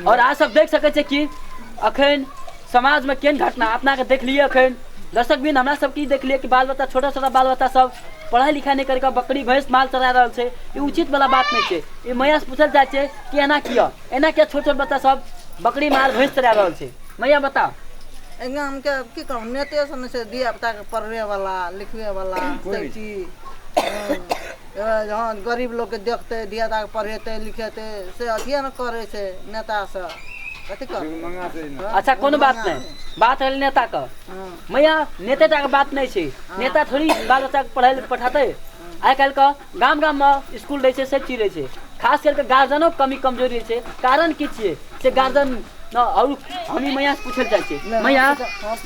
और अहाँ सब देख सकै छियै कि अखन समाज में केन घटना अपना के देखलिए अखन दर्शक बिन हमरा सब की देखलिए कि बाल बच्चा छोटा छोटा बाल बच्चा सब पढ़ाई लिखाई नहीं करके बकरी भैंस माल चरा रहल छै ई उचित वाला बात नहीं छै ई मैया से पूछल जाए छै कि एना किया एना किया छोट छोट बच्चा सब बकरी माल भैंस चरा रहल छै मैया बताओ एहि गामके की कहू नेते सब ने छै धिया पुताके पढ़बे वाला लिखबे वाला सब चीज हँ गरीब लोकके देखतै धिया पुताके पढ़ेतै लिखेतै से अथिए ने करै छै नेता सब कथी करतै अच्छा कोनो बात नहीं बात है नेता का हँ मैया नेते टा के बात नहीं छै नेता थोड़ी बाल बच्चा के पढ़े ले पठाते आइ काल्हि का गाम गाममे इसकुल रहै छै सब चीज रहै छै खास करिके गार्जियनो कमी कमजोरी रहै छै कारण की छियै से गार्जियन आओर हम ई मैयासँ पूछै लए चाहै छियै मैया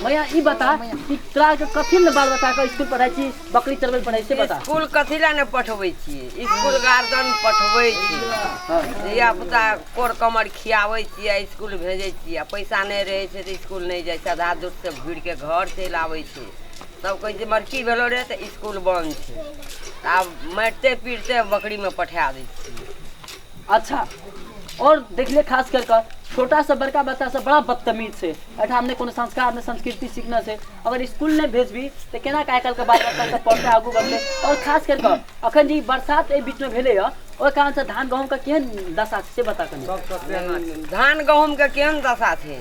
मैया ई बता कि तोरा आरके कथी लए बाल बच्चाके इसकुल पढ़ाइ छी बकरी चलबै लए पढ़ाइ छी बता स्कूल कथी लए ने पठबै छियै स्कूल गार्जियन पठबै छियै धिया पुता कोर कमर खियाबै छियै आ स्कूल भेजै छियै आ पैसा नहि रहै छै तऽ स्कूल नहि जाइ छै आधा दूरसँ घुरि कऽ घर चलि आबै छै तब कहै छै बड़की भेलो रे तऽ स्कूल बन्द छै तऽ आब मारिते पीटते बकरीमे पठा दै छियै अच्छा और देखले खास कर कर छोटा से बड़का बच्चा से बड़ा बदतमीज से अठा हमने कोनो संस्कार ने संस्कृति सीखना से अगर स्कूल ने भेजबी तो केना का आजकल के बाल बच्चा सब पढ़ते आगू बढ़ते और खास कर कर अखन जी बरसात ए बीच में भेले ह ओहि कारण से धान गहूम का केहन दशा छै से बता कनी धान गहूँमके केहन दशा छै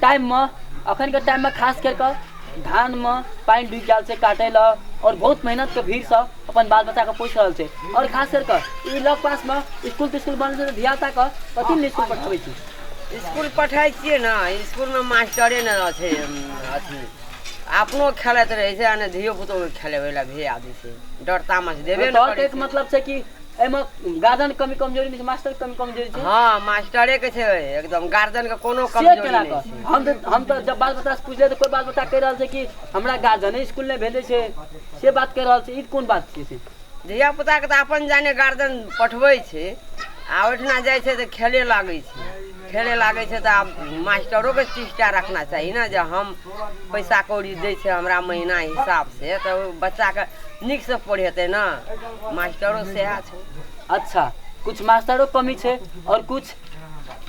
टाइममे अखनके टाइममे खास करि कऽ धानमे पानि ढुकि गेल छै काटै लए आओर बहुत मेहनतके भीड़सँ अपन बाल बच्चाके पोसि रहल छै आओर खास करि कऽ ई लग पासमे इसकुल तिस्कुल बनल छै तऽ धियापुताके कथी लए इसकुल पठबै छी इसकुल पठै छियै ने इसकुलमे मास्टरे ने छै अथी अपनो खेलैत रहै छै आ ने धियो पुतोके खेलेबै लए भेज दै छै डर तामस देबे ने तौर करै कहैके छै। मतलब छै कि एहिमे गार्जियन कमी कमजोरी नहि छै मास्टर कमी कमजोरी छै हाँ मास्टरे के छै एकदम गार्जियन के कोनो से कमजोरी केना नहि कऽ छै हम तऽ हम तऽ जब बाल बच्चा से पूछले तऽ कोई बाल बच्चा कहि रहल छै कि हमरा गार्जियने स्कूल नहि भेजे छै से बात कहि रहल छै ई कोन बात छियै से धिया पुता के तऽ अपन जाने गार्जियन पठबै छै आ ओहिठिना जाइ छै तऽ खेले लागै छै खेले लागै छै तऽ आब मास्टरो के शिक्षा रखना चाही ने जे हम पैसा कौड़ी दै छै हमरा महीना हिसाब से तऽ ओ बच्चा के नीकसँ पढ़ेतै ने मास्टरो सएह छै अच्छा कुछ मास्टरो कमी छै आओर कुछ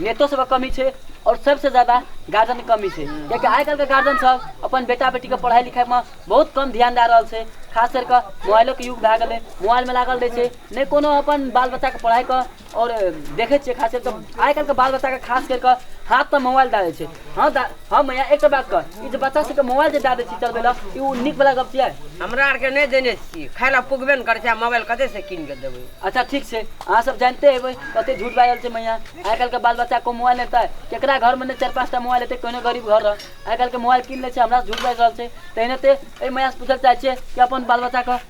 नेतो सबके कमी छै आओर सबसँ ज्यादा गार्जियन कमी छै कियाकि आइ काल्हिके गार्जियन सब अपन बेटा बेटीके पढ़ाइ लिखाइमे बहुत कम ध्यान दए रहल छै खास करि कऽ मोबाइलोके युग भए गेलै मोबाइलमे लागल रहै छै नहि कोनो अपन बाल बच्चाके पढ़ाइके और देखे छे खास तो आइ काल्हि के बाल बच्चा के खास करके हाथ पर मोबाइल दे छे हाँ दा हाँ मैया एक बात कर ई जे बच्चा सबके मोबाइल जे दे छी चलबे ला ई उ निक वाला गप छियै हमरा आरके नहि देने छियै खाय लए पुगबे ने करै छै आ मोबाइल कतय से कीन के देबै अच्छा ठीक छै अहाँ सब जानते हेबै कते झूठ बाजल छै मैया आइ काल्हि के बाल बच्चा को मोबाइल लेतै केकरा घर में ने चार पांच टा मोबाइल लेतै कोनो गरीब घर रह आइ काल्हि के मोबाइल कीन ले छै हमरा से झूठ बाजि रहल छै तहिने ते ए मैया से पूछल चाहे छियै कि अपन बाल बच्चा के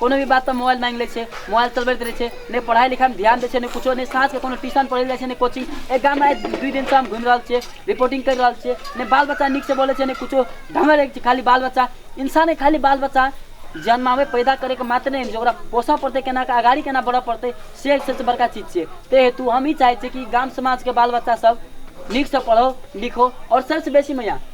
कोनो भी बात पर मोबाइल मांगि लै छै मोबाइल चलबैत रहै छै नहि पढ़ाइ लिखाइमे ध्यान दै छै नहि किछो नहि साँझके कोनो ट्यूशन पढ़ै जाइ छै नहि कोचिंग एहि गाममे आइ दुइ दिनसँ हम घुमि रहल छियै रिपोर्टिंग करि रहल छियै नहि बाल बच्चा नीकसँ बोलै छै नहि किछो ढंगर रहै छै खाली बाल बच्चा इंसाने खाली बाल बच्चा जन्माबै पैदा करैके मात्र नहि जे ओकरा पोसऽ पड़तै केना कऽ अगाड़ी केना बढ़ऽ पड़तै से सबसँ बड़का चीज छियै ताहि हेतु हम ई चाहै छियै कि गाम समाजके बाल बच्चा सब नीकसँ पढ़ो लिखो आओर सबसँ बेसी मैया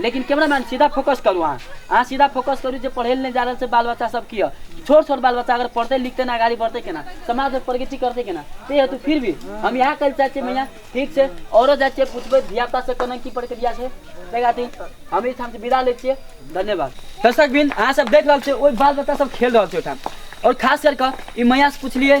लेकिन कैमरा मैन सीधा फोकस करू अहाँ अहाँ सीधा फोकस करू जे पढ़ै लए नहि जा रहल छै बाल बच्चा सब की यऽ छोट छोट बाल बच्चा अगर पढ़तै लिखतै ने आगाड़ी बढ़तै केना समाजमे प्रगति करतै केना ते हेतु फिर भी हम इएह कहै चाहै छियै मैया ठीक छै औरो जाइ छियै पुछबै धियापुता से केना की प्रक्रिया छै ताहि खातिर हम एहिठाम से विदा लै छियै धन्यवाद दर्शक बिन अहाँ सब देख रहल छियै ओहि बाल बच्चा सब खेल रहल छै ओहिठाम आओर खास करि कऽ ई मैया से पुछलियै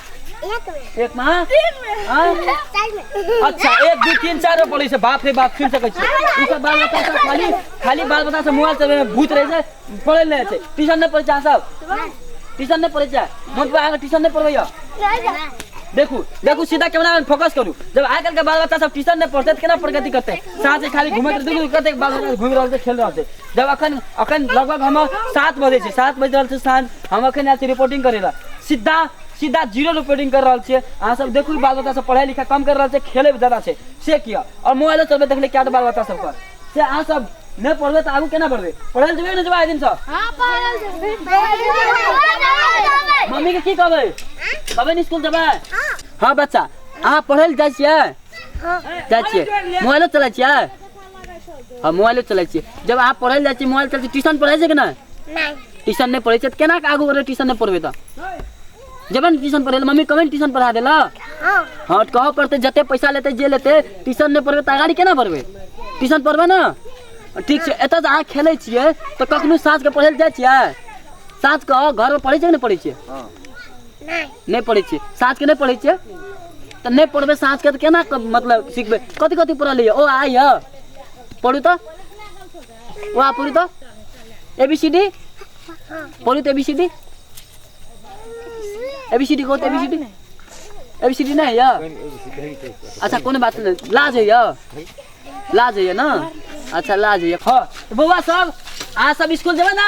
एक मा हाँ? अच्छा एक दू तीन चार बोले से बाप रे बाप सुन सके छी ई सब बाल बच्चा सब खाली खाली बाल बच्चा से मोबाइल चलबे में भूत रहे छै पढ़े ले छै ट्यूशन नहीं पढ़े छै अहाँ सब ट्यूशन नहीं पढ़े छै मोट पे अहाँ ट्यूशन नहीं पढ़बैया देखू देखू सीधा कैमरा में फोकस करू जब आइ काल्हि के बाल बच्चा सब ट्यूशन नहीं पढ़ते तऽ केना प्रगति करते साँझ खाली घूमैत रहै देखू कतेक बाल बच्चा घूमि रहल छै खेल रहल छै जब अखन अखन लगभग हम सात बजे छै सात बजि रहल छै साँझ हम अखन आयल छी रिपोर्टिंग करै लए सीधा सीधा जीरो रिपोर्टिंग कर रहल छियै अहाँ सब देखू बाल बच्चा सब पढ़ाइ लिखाइ कम कर रहल छै खेलै ज्यादा छै से किया और मोबाइलो चलबै देखले क्या बाल बच्चा सब पर से अहाँ सब नहि पढ़बै तऽ आगू केना बढ़बै पढ़ै लए जेबै ने जेबै आइ दिन सब मम्मी के की कहबै कहबै ने स्कूल जेबै हाँ बच्चा अहाँ पढ़ै लए जाइ छियै जाइ छियै मोबाइलो चलै छियै हँ मोबाइलो चलै छियै जब अहाँ पढ़ै लए जाइ छियै मोबाइल चलै छियै ट्यूशन पढ़ै छै कि नहि नहीं ट्यूशन नहीं पढ़े तो केना के आगू बढ़े ट्यूशन नहीं पढ़बे तो जब ने ट्यूशन पढ़े मम्मी कभी ट्यूशन पढ़ा देला हाँ हाँ तो कहो पढ़ते जते पैसा लेते जे लेते ट्यूशन नहीं पढ़बे तो आगाड़ी केना बढ़बे ट्यूशन पढ़बे ना ठीक छै एतऽ से अहाँ खेलै छियै तऽ कखनो साँझके पढ़ै लए जाइ छियै साँझ कऽ घरमे पढ़ै छियै कि नहि पढ़ै छियै नहि पढ़ै छियै साँझके नहि पढ़ै छियै तऽ नहि पढ़बै साँझके तऽ केना क- मतलब सिखबै कथी कथी पढ़ल यऽ ओ आइ यऽ पढ़ू तऽ ओ आ पढ़ू तऽ ए बी सी डी पढ़ू तऽ A B C D A B C D कहू तऽ A B C D A B C D नहि यऽ अच्छा कोनो बात नहि लाज होइए ला जाइए ना अच्छा ला जाइए हाँ तो बउआ सब आज सब स्कूल जेबे ना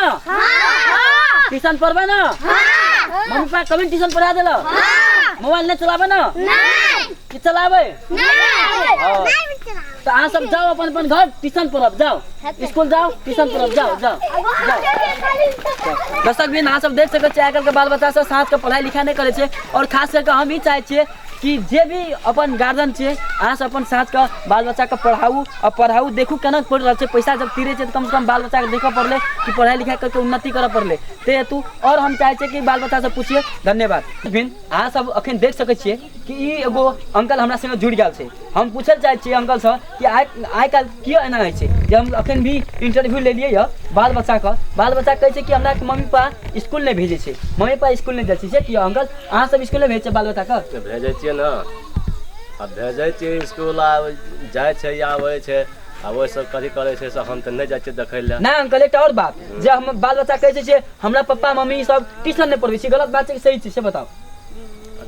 ट्यूशन पढ़बे ना मम्मी पापा कभी ट्यूशन पढ़ा देला मोबाइल नहीं चलाबे ना कि चलाबे हाँ। तो अहाँ सब जाओ अपन अपन घर ट्यूशन पढ़ब जाओ स्कूल जाओ ट्यूशन पढ़ब जाओ जाओ जाओ दर्शक बिन अहाँ सब देख सकै छियै आइ काल्हिके बाल बच्चा सब साँझके पढ़ाइ लिखाइ नहि करै छै आओर खास कऽ कऽ हम ई चाहै छियै कि जे भी अपन गार्जियन छै अहाँ सब अपन साथ के बाल बच्चा के पढ़ाऊ और पढ़ाऊ देखू केना पढ़ रहल छै पैसा जब तीरे छै तऽ कम से कम बाल बच्चा के देखऽ पड़ले कि पढ़ाई लिखाई करके उन्नति करऽ पड़ले ते हेतु और हम चाहे छियै कि बाल बच्चा से पूछिए धन्यवाद फिर अहाँ सब अखन देख सकै छियै कि ई एगो अंकल हमरा संगे जुड़ गेल छै हम पूछल चाहे छियै अंकल से कि आइ आइ काल्हि किया एना होइ छै जे हम अखन भी इंटरव्यू लेलियै यऽ बाल बच्चाके बाल बच्चा कहै छै कि हमरा मम्मी पापा इसकुल नहि भेजै छै मम्मी पापा इसकुल नहि जाइ छै से किया अंकल अहाँ सब इसकुल नहि भेजै छियै बाल बच्चाके तऽ भेजै छियै ने आ भेजै छियै इसकुल आ जाइ छै या आबै छै आ ओहिसँ कथी करै छै से हम तऽ नहि जाइ छियै देखै लए नहि अंकल एकटा आओर बात जे हम बाल बच्चा कहै छै जे हमरा पप्पा मम्मी सब ट्यूशन नहि पढ़बै छै गलत बात छै कि सही छै से बताउ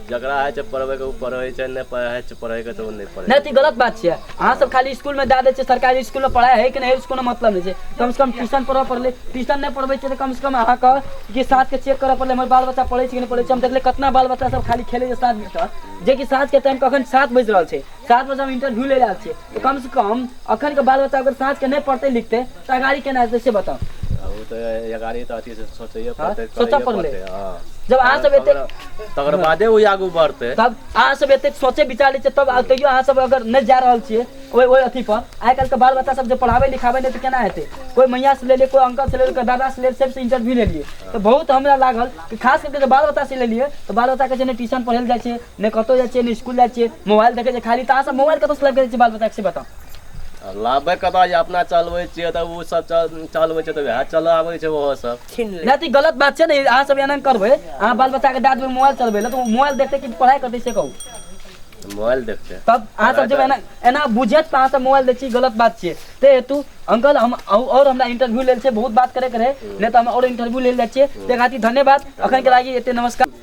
जकरा होइ छै पढ़बैके ओ पढ़ै छै नहि पढ़ै छै पढ़ैके तऽ ओ नहि पढ़ै नहि तऽ ई गलत बात छियै अहाँ सब खाली स्कूल में दए दै छियै सरकारी स्कूल में पढ़ाई है कि नहीं है उसको मतलब नहीं छै कम से कम ट्यूशन पढ़ऽ पड़ले ट्यूशन नहीं पढ़बै छियै तऽ कम से कम अहाँ कह कि साथ के चेक करऽ पड़ले हमर बाल बच्चा पढ़ै छै कि नहीं पढ़ै छै हम देखले कितना बाल बच्चा सब खाली खेले छै साथ में जे कि साँझ के टाइम कखन सात बज रहल छै सात बजे हम इंटरव्यू ले रहल छियै तो कम से कम अखन के बाल बच्चा अगर साँझ के नहीं पढ़ते लिखते तो अगाड़ी केना हेतै से बताओ अब वो तो ये गाड़ी तो अथी से सोचे हाँ, पड़ते सोचऽ करैये पड़लै। पड़तै, हाँ। जब अहाँ सब एते तकर बादे वो आगू बढ़ते तब अहाँ सब एते सोचे विचार लै छियै तब आ- तैयो अहाँ सब अगर नहि जा रहल छियै ओहि ओहि अथी पर आइ काल्हि के बाल बच्चा सब जे पढ़ाबै लिखाबै नहि तऽ केना हेतै कोइ मैया से लेलियै कोइ अंकल से लेलियै कोइ दादा से लेलियै सबसे इंटरव्यू लेलियै तऽ बहुत हमरा लागल कि खास करके जे बाल बच्चा से लेलियै तऽ बाल बच्चा के छै ने ट्यूशन पढ़ै लए जाइ छै ने कतौ जाइ छियै ने स्कूल जाइ छियै मोबाइल देखै छै खाली तऽ अहाँ सब मोबाइल कतौ से लाइब करै छियै बाल बच्चा से बताउ आ लाबे कतऽ जे अपना चलबै छियै तऽ ओ सब चल चलबै छै तऽ वएह चलऽ आबै छै ओहो सब छीन ले नहि तऽ ई गलत बात छै ने अहाँ सब एना करबै अहाँ बाल बच्चा के डांट देबै मोबाइल चलबै लए तऽ ओ मोबाइल देखतै कि पढ़ाई करतै से कहू मोबाइल देखते तब अहाँ सब जब एना एना बुझत तऽ अहाँ सब मोबाइल दै छी गलत बात छियै ते हेतु अंकल हम और हमरा इंटरव्यू लेल छै बहुत बात करे के रहे नहि तऽ हम और इंटरव्यू लेल जाइ छियै ते खातिर धन्यवाद अखन के लागि एते नमस्कार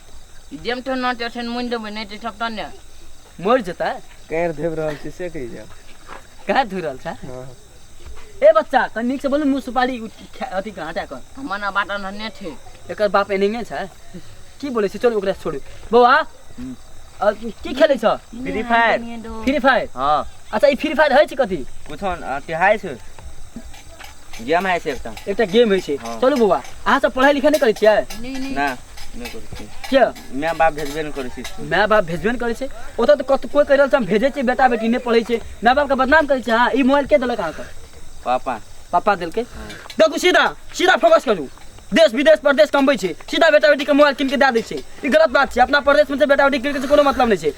जेम तो ना टेंशन मुन देबे नहीं तो सब तन्ने मर जता कैर देव रहल छी से कहि जाब कहाँ धुर रहल छा हँ ए बच्चा त नीक से बोलू मुँह सुपारी उठ- खा- अथी कहाँ हटा कर हमर ना बाटा नन्हे थे एकर बाप एनहिए छ की बोलै छै चलू ओकरा छोड़ू बौआ अ, की खेलै छ फ्री फायर फ्री फायर हाँ अच्छा ई फ्री फायर होइ छै कथी कुछ तिहाय छै गेम है से एकटा एकटा गेम होइ छै हाँ। चलू बौआ अहाँ सब पढ़ाइ लिखाइ नहि करै छियै नहीं नहीं ना किया माय बाप भेजबे नहि करै छै इसकुल। माय बाप भेजबे ने करै छै ओतऽ तऽ कत कोइ कहि रहल छै हम भेजै छियै बेटा बेटी नहि पढ़ै छै माय बापके बदनाम करै छै अहाँ ई मोबाइल के देलक अहाँके पापा पापा देलकै देखू सीधा सीधा फोकस करू देश विदेश परदेश कमबै छै सीधा बेटा बेटीके मोबाइल कीन कऽ दए दै छै ई गलत बात छै अपना परदेशमे छै बेटा बेटी कीन कऽ कोनो मतलब नहि छै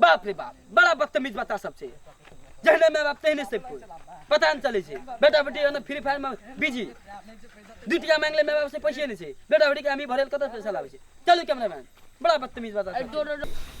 बाप रे बाप बड़ा बदतमीज बता सब छै जहने माय बाप तहने सब कोई पता नहि चलै छै बेटा बेटी ओने फ्री फायर मे बिजी दू टका मांग ले माय बाप से पैसे नहि छै बेटा बेटी के अमी भरल कतऽ पैसा लाबै छै चलू कैमरामैन बड़ा बदतमीज बता सब छै।